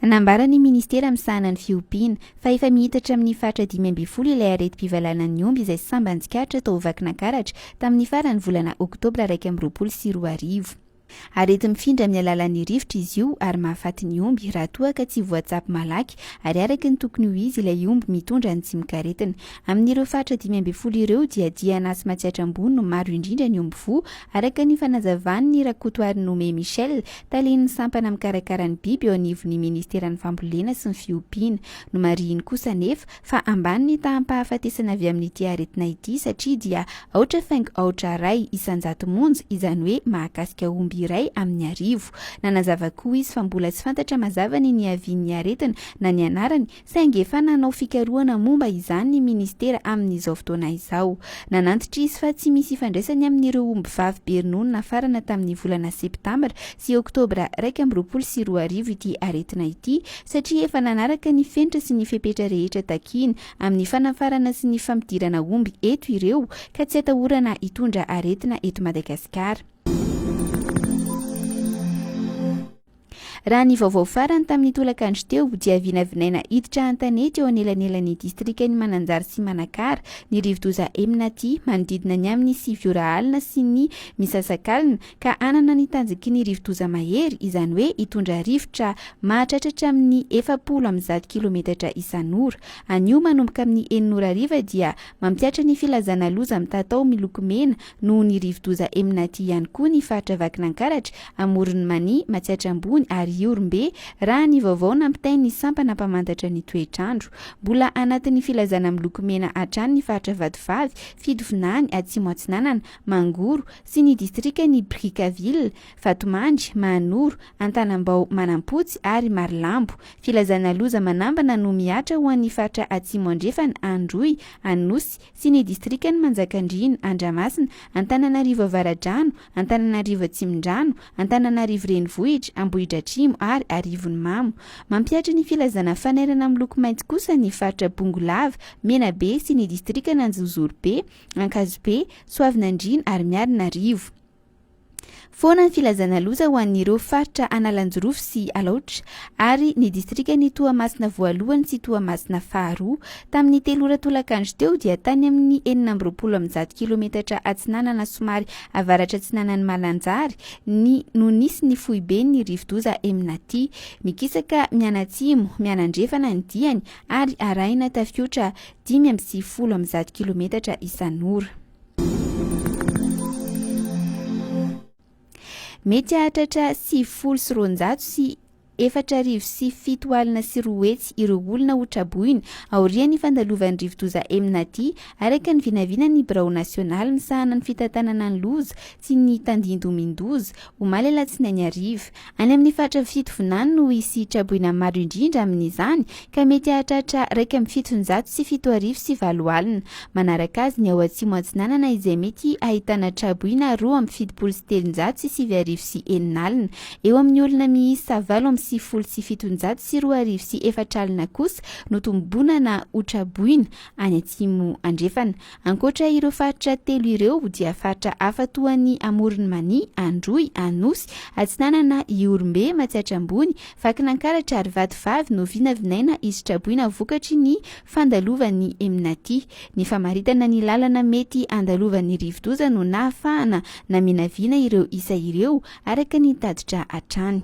Nambaran'ny minisitera misahana ny fiompiana, fa efa miitatra amin'ny faritra dimy ambin'ny folo ilay aretim-pivalanan'ny omby izay sambany tsikaritra tao Vakinankaratra tamin'ny faran'ny volana oktobra iraika amby roapolo sy roa arivo. Areti-mifindra amin'ny alalan'ny rivotra izy io ary mahafaty ny omby raha toa ka tsy voatsabo malaky ary araka ny tokony ho izy ilay omby mitondra ny tsimok'aretina. Amin'ireo faritra dimy ambin'ny folo ireo dia Diana sy Matsiatra Ambony no maro indrindra ny omby voa araka ny fanazavan'i Rakotoarinoome Michel, Talen'ny sampana mikarakara ny biby eo anivon'ny ministeran'ny fambolena sy ny fiompiana. Nomarihiny kosa anefa fa ambany ny taham-pahafatesana avy amin'ity aretina ity satria dia aotra faingo aotra iray isan-jato monja, izany hoe mahakasika omby iray amin'ny arivo. Nanazava koa izy fa mbola tsy fantatra mazava ny niavian'ny aretina na ny anarany Saingy efa nanao fikarohana momba izany ny minisitera amin'izao fotoana izao. Nanantitra izy fa tsy misy ifandraisany amin'ireo omby vavy be ronono nafarana tamin'ny volana septambra sy oktobra iraika amby roapolo sy roa arivo ity aretina ity satria efa nanaraka ny fenitra sy ny fepetra rehetra takiany amin'ny fanafarana sy ny fampidirana omby eto ireo ka tsy atahorana hitondra aretina eto Madagasikara. Raha ny vaovao farany tamin'ny tolakandro teo dia vinavinaina hiditra an-tanety eo anelanelan'ny distrikan'i Mananjary sy Manakara ny rivodoza Emnaty manodidina ny amin'ny sivy ora alina sy ny misasakalina ka hanana ny tanjaky ny rivodoza mahery izany hoe hitondra rivotra mahatratra hatramin'ny efapolo amby zato kilometatra isan'ora. Anio manomboka amin'ny enina ora hariva dia mampiatra ny filazana loza mitatao miloko mena Noho ny rivodoza Emnati ihany koa ny faritra Vakinankaratra, Amoron'i Mania, Matsiatra Ambony ary Ihorombe, raha ny vaovao nampitain'ny sampana mpamantatra ny toetr'andro. Mbola anatin'ny filazana miloko mena hatrany ny faritra Vatovavy, Fidovinany, Atsimo Atsinanana, Mangoro, sy ny distrikan'i Brickaville, Vatomandry, Mahanoro, Antanambao, Manampotsy ary Marilambo. Filazana loza manambana no mihatra ho an'ny faritra Atsimo Andrefana, Androy, Anosy, sy ny distrikan'i Manjakandriana, Andramasina, Antananarivo Avaradrano, Antananarivo Atsimondrano, Antananarivo Renivohitra, Ambohidratrimo ary Arivonimamo. Mampihatra ny filazana fanairana miloko mainty kosa ny faritra Bongolava, Menabe sy ny distrikan'Anjozorobe, Ankazobe, Soavinandriana ary Miarinarivo. Foana ny filazana loza ho an'ireo faritra Analanjirofo sy Alaotra ary ny distrikan'i Toamasina voalohany sy Toamasina faharoa. Tamin'ny telo ora tolakandro teo dia tany amin'ny enina amby roapolo amby zato kilometatra atsinanana somary avaratra-atsinanan'i Malanjary ny no nisy ny foiben'ny rivodoza Emnati. Mikisaka mianatsimo, mianandrefana ny diany ary arahina tafiotra dimy amby sivifolo amby zato kilometatra isan'ora. Mety hahatratra sivifolo sy roanjato sy efatra arivo sy fito alina sy roa hetsy ireo olona ho traboina aorian'ny fandalovan'ny rivodoza Emnati, araka ny vinavinan'ny birao nasionaly misahana ny fitantanana ny loza sy ny tandindomin-doza, omaly alatsinainy hariva. Any amin'ny faritra fitovinany no hisy traboina maro indrindra amin'izany ka mety hahatratra iraika amby fitonjato sy fito arivo sy valo alina. Manaraka azy ny ao Atsimo-Atsinanana izay mety hahitana traboina roa amby fitopolo sy telonjato sy sivy arivo sy enina alina. Eo amin'ny olona miisa valo amby sivifolo sy fitonjato sy roa arivo sy efatra alina kosa no tombonana ho traboina any Atsimo Andrefana. Ankoatra ireo faritra telo ireo dia faritra hafa toa an'i Amoron'i Mania, Androy, Anosy, Atsinanana, Ihorombe, Matsiatra Ambony, Vakinankaratra ary Vatovavy no vinavinaina hisotraboina vokatry ny fandalovan'ny Emnati. Ny famaritana ny lalana mety handalovan'ny rivodoza no nahafahana naminavina ireo isa ireo araka ny tatitra hatrany.